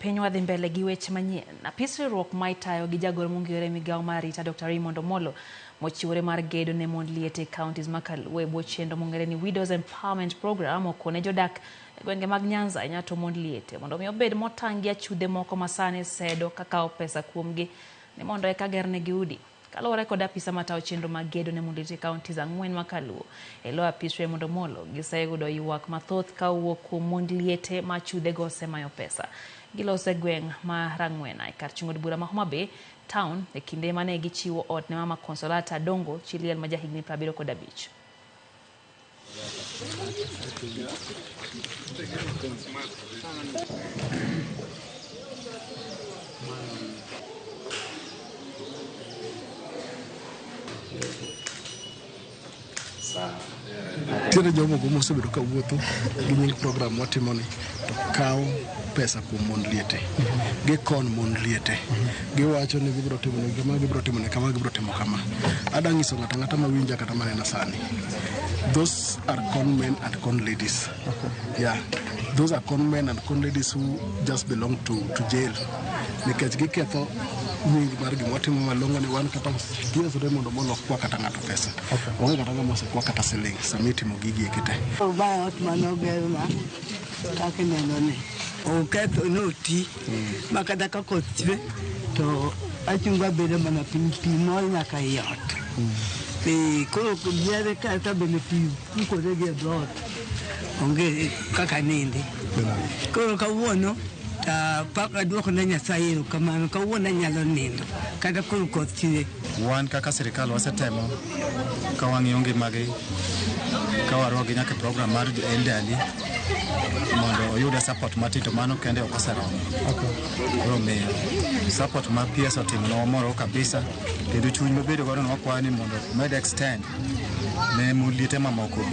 Piny wadhi mbele gi weche manyien. Apis riwruok ma itayo gi jagoro mongirore e migao mar arita Dr. Raymond Omolo mochiwore mar gedo ne mond liete e counties ma kaluo e bwo chenro mongere ni Widows Empowerment Program okone jodak e gwenge mag Nyanza e Nyato mond liete mondo mi obed motang' gi achudhe moko masani sedo kakawo pesa kuomgi ni mondo eka gernegi udi. Kaluwore kod apisa matawo chenro mag gedo ne Munditi counties ang'wen ma kaluo elo apis Raymond Omolo, giseyudo ywak mathoth ka owuok kuom mond liete ma chudhe go osemayo pesa. Giloso e gweng' ma Rang'wena e kar chung' od bura ma Homa Bay town e kinde mane gichiwo ot ne mama Consolata Adongo chi liel ma ja higni prabiriyo kod abich. Tiene jogo mosebedo ka wuotho gi nying program watimoni. kawo pesa kuom mon liete gikon mon liete giwacho ni gibiro timo ne kama gibiro timo ne kama gibiro timo kama ada nyiso ng'ata ng'ata ma winja kata manena sani those are con men and con ladies yeah those are con men and con ladies who just belong to, to jail nikech giketho nying mar gima watimo malongo ni wan kata giesore mondo mon ok kwa kata ng'ato pesa onge kata ng'ama osekwa kata siling sama itimo gigi ekite Obaya ot mane ogerna. Kaka ineno ni oketho ne oti ma kata ka koth chwe to achungo abedo mana piny pi mol nyaka i ot. Ee, koro yiere kata bende pi pukore gi e dhoot onge kaka nindi. Koro kawuono ta pak aduoko ne Nyasaye erokamano kawuono anyalo nindo kata koro koth chwe. Wan kaka sirikal wasetemo ka wang'iyo ngimagi ka waruakgi nyaka e program mar Endali mondo oyude support matin to mano kende ok oseromo. Koro miyo support ma PS otimo no wamoro kabisa kendo chuny mobedo godo no wakwayo ni mondo med extend ne muliete mamoko be.